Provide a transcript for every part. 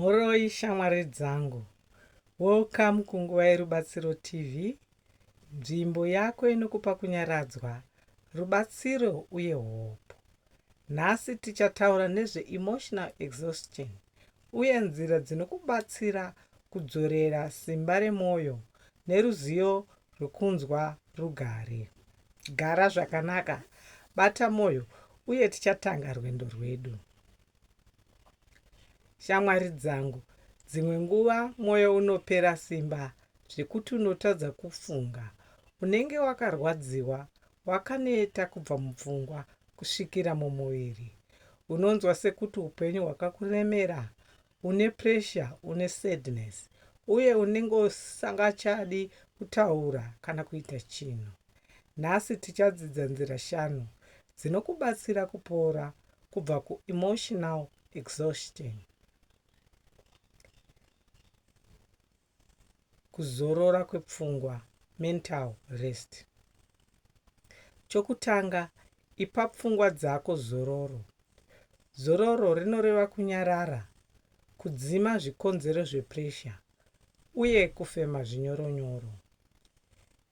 Mhoroi shamwari dzangu. Welcome kunguva yerubatsiro TV, nzvimbo yako inokupa kunyaradzwa, rubatsiro uye hope. Nhasi tichataura nezve emotional exhaustion uye nzira dzinokubatsira kudzorera simba remwoyo neruzivo rwekunzwa rugare. Gara zvakanaka, bata mwoyo uye tichatanga rwendo rwedu. Shamwari dzangu, dzimwe nguva mwoyo unopera simba zvekuti unotadza kufunga. Unenge wakarwadziwa, wakaneta kubva mupfungwa kusvikira mumuviri. Unonzwa sekuti upenyu hwakakuremera, une pressure, une sadness, uye unenge usingachadi kutaura kana kuita chinhu. Nhasi tichadzidza nzira shanu dzinokubatsira kupora kubva ku emotional exhaustion kuzorora kwepfungwa mental rest chokutanga ipa pfungwa dzako zororo zororo rinoreva kunyarara kudzima zvikonzero zvepresha uye kufema zvinyoronyoro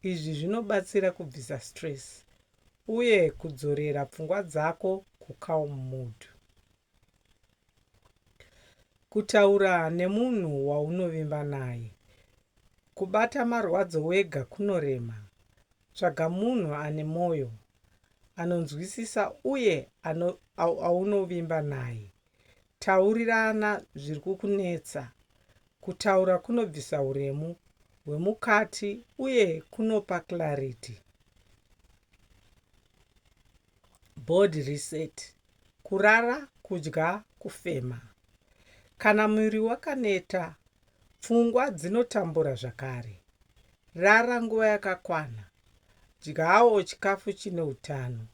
izvi zvinobatsira kubvisa stress uye kudzorera pfungwa dzako kucalm mood. Kutaura nemunhu waunovimba naye. Kubata marwadzo wega kunorema. Tsvaga munhu ane moyo, anonzwisisa uye aunovimba naye. Taurirana zviri kukunetsa. Kutaura kunobvisa huremu hwemukati uye kunopa clarity. Body reset. Kurara, kudya, kufema. Kana muviri wakaneta, pfungwa dzinotambura zvakare. Rara nguva yakakwana. Dyawo chikafu chine utano.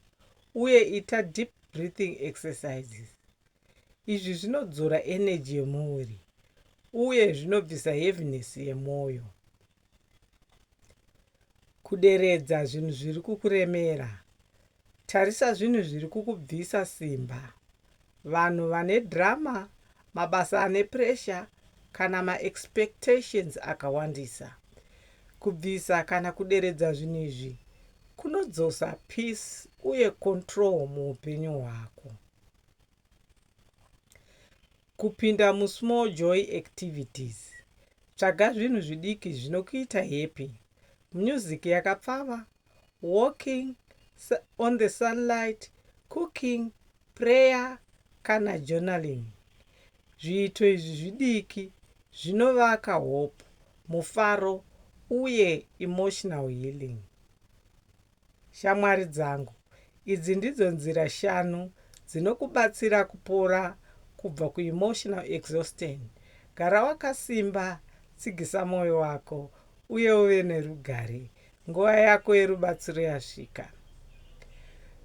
uye ita deep breathing exercises. Izvi zvinodzora energy yemuviri uye zvinobvisa heaviness yemwoyo. Kuderedza zvinhu zviri kukuremera. Tarisa zvinhu zviri kukubvisa simba. Vanhu vane drama, mabasa ane pressure kana ma expectations akawandisa. Kubvisa kana kuderedza zvinhu izvi kunodzosa peace uye control muupenyu hwako. Kupinda mu small joy activities. Tsvaga zvinhu zvidiki zvinokuita happy. Music yakapfava walking on the sunlight, cooking, prayer kana journaling. Zviito izvi zvidiki zvinovaka hope, mufaro uye emotional healing. Shamwari dzangu, idzi ndidzo nzira shanu dzinokubatsira kupora kubva kuemotional exhaustion. Gara wakasimba, tsigisa mwoyo wako uye uve nerugare. Nguva yako yerubatsiro yasvika.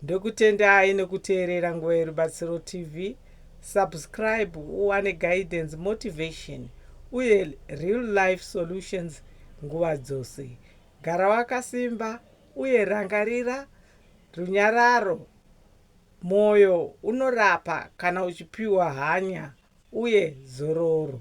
Ndokutendai nokuteerera Nguva yeRubatsiro TV. Subscribe uwane guidance, motivation uye real life solutions nguva dzose. Gara wakasimba uye rangarira runyararo. Mwoyo unorapa kana uchipiwa hanya uye zororo.